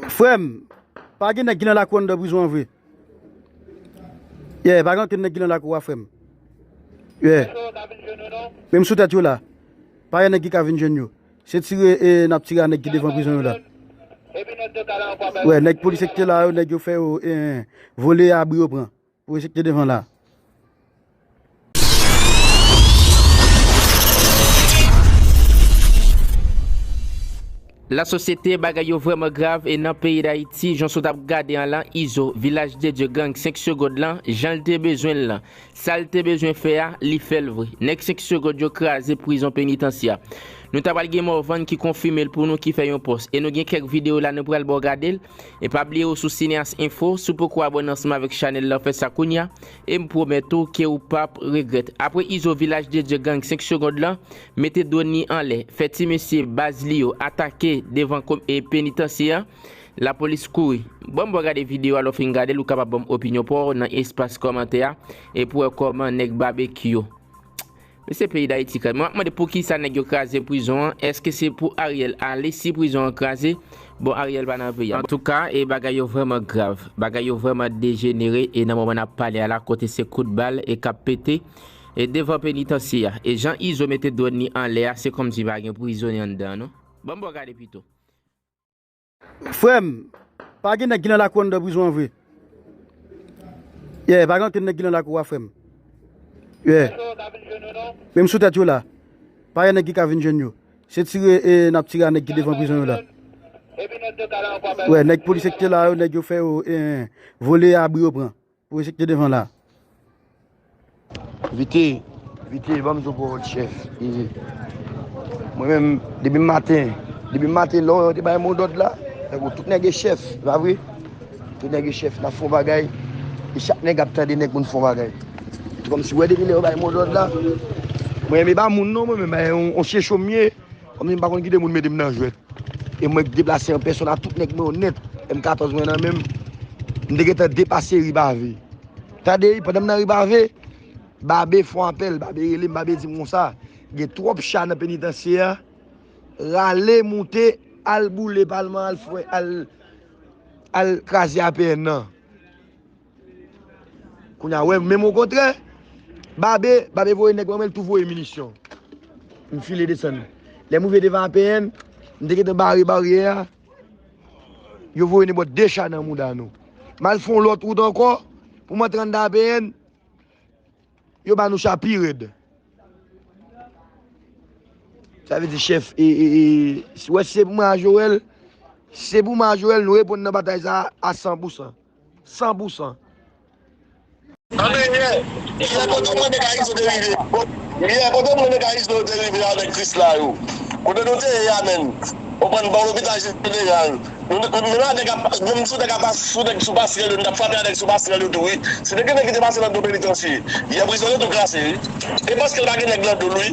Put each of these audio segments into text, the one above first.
Frem pa gen nèg ki nan lakou anndan prizon an vre Yeah pa gen ankenn nèg ki nan lakou a frem Yeah menm sou tèt yo la pa gen nèg ki ka vin jwenn yo se tire e nap tire a nèg ki devan prizon yo la Yeah nèg polisye ki te la yo nèg yo fè yo vole abri yo pran. Projekte devan la. La sosyete bagay yo vreman grav e nan peyi dayiti jan sot ap gade an lan izo vilaj de dye gang 5 segond lan janl te bezwenl lan sal te bezwen fè a li fèl vre nèg 5 segond yo kraze prizon penitansya nou ta pral gen morvan ki konfimel pou nou ki fè yon pòs e nou gen kèk video la nou pral baw gadel E pa bliye ou sou cineas info, si w poko abone ansanm avèk chanèl lan fè sa kounya, e m pwomèt ou ke ou pap regrèt. Apre Izo Vilaj de Dye Gang 5 segond lan, mete drone li anlè, fè ti mesye baz li yo atake devan penitansye an, lapolis kouri. Banm wè gade video a lè w fin gade l ou kapab banm opinyon pa w nan espas kòmantè a e pou wè kòman nèg Babekyou. Men se peyi dayiti kay mwen ap mande poukisa nèg yo kraze prizon an eske se pou ariel ale si prizon an kraze bon ariel pa nan peyi a antouka e bagay yo vrèman grav bagay yo vrèman dejenere e nan moman nap pale a la kote se kout bal e kap pete e devan penitansye a e jan izo mete dwòn li anlè a se kòmsi pa gen prizonye anndan an non banm bo gade pito. Frèm, pa gen nèg ki nan lakou anndan prizon an vre. Yeah, pa gen ankenn nèg ki nan lakou a frèm. Yeah. Menm sou tèt yo la. Pa gen nèg ki ka vin jwenn yo. Se tire e nap tire a nèg ki devan prizon yo la. Wè, nèg polis ki te la yo, nèg yo fè yo e vole abri yo pran. Projekte devan la. Vite, vite banm zo powol chef ee. Mwen menm depi maten, depi maten lò yo te bay mo dòd la, tankou tout nèg e chef, se pa vre? Tout nèg e chef nan fon bagay, e chak nèg ap tande nèg moun fon bagay. Se kòmsi wè depi lè yo bay mo dòd la, mwen menm e pa moun non mwen menm, e yon chechou m ye. Kòm si m pa konn kite moun mete m nan jwèt e mwen k deplase an pèsòn ak tout nèg mwen yo nèt, M 14 mwen nan men m, m te gentan depase ri Bave. Tande, pandan m nan ri Bave, Babe fon apèl, Babe rele m, Babe di m konsa, Gen twòp cha nan penitansye a, rale moute al boule palman an, al kraze APN nan. Kounya wè menm okontrè Babe, Babe voye nèg mwen menl tou voye minisyon. M file desann. Lèm rive devan APN, m te gentan bare baryè a, yo voye nenpòt 2 cha nan mouda nou. M al fè yon lòt wout ankò pou m antre anndan APN, yo ba nou cha pi rèd. Sa vle di chèf e, e, e, wè si se pou mwen a Joel, si se pou mwen a Joel nou reponn nan batay sa a san pou san. san pou san. Andenyè, yè kote mwen de Kayis ou te rive yè kote mwen de Kayis nou te rive avèk Kris la yo kote nou te ye amèn konprann bò lopital jeneral nou menm a nèg ap menm sou nèg ap sou nèg sou pasrèl yo nou tap frape a nèg sou pasrèl yo tou wi se te gen nèg ki te pase nan do penitansye yè prizon yo tou klase wi e paskel pa gen nèg nan dol wi.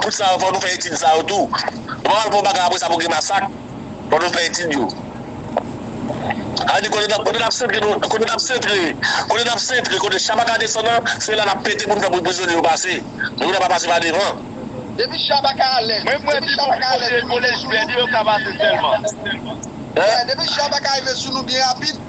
Tout sa yo fò nou fè etid sa yo tou. Ou pa pral fè yon bagay apre sa pou gen masak. Fò nou fè etid yo. Sa vle di kote nap kote nap sentre nou kote nap sentre kote nap sentre kote Chabaka desann an se la nap pete pou nou fè pou prizonye yo pase. Moun yo pa pase pa devan. Depi Chabaka alèz. Mwen mwen di pou kote kolèj Vènye yo ka pase sèlman. Depi Chabaka rive sou nou byen rapid.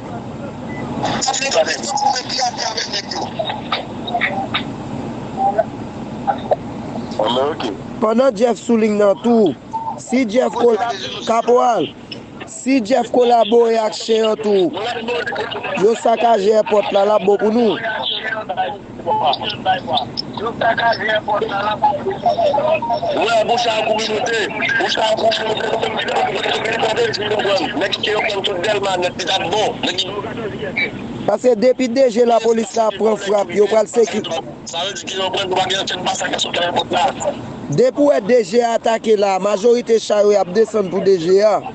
Sa vle di mesye goumen pi a pi avek neg yo. Anmwey ok. Pandan Jeff sou ling nan tou. Si Jeff kolabore. Kaporal. Si Jeff kolabore ak chen an tou. Yo sakaje èpòt la lap bon pou nou. Pase depi DG lapolis la pran frap yo pral Depi ou wè DG a atake la majorite cha yo yap desann pou DG a.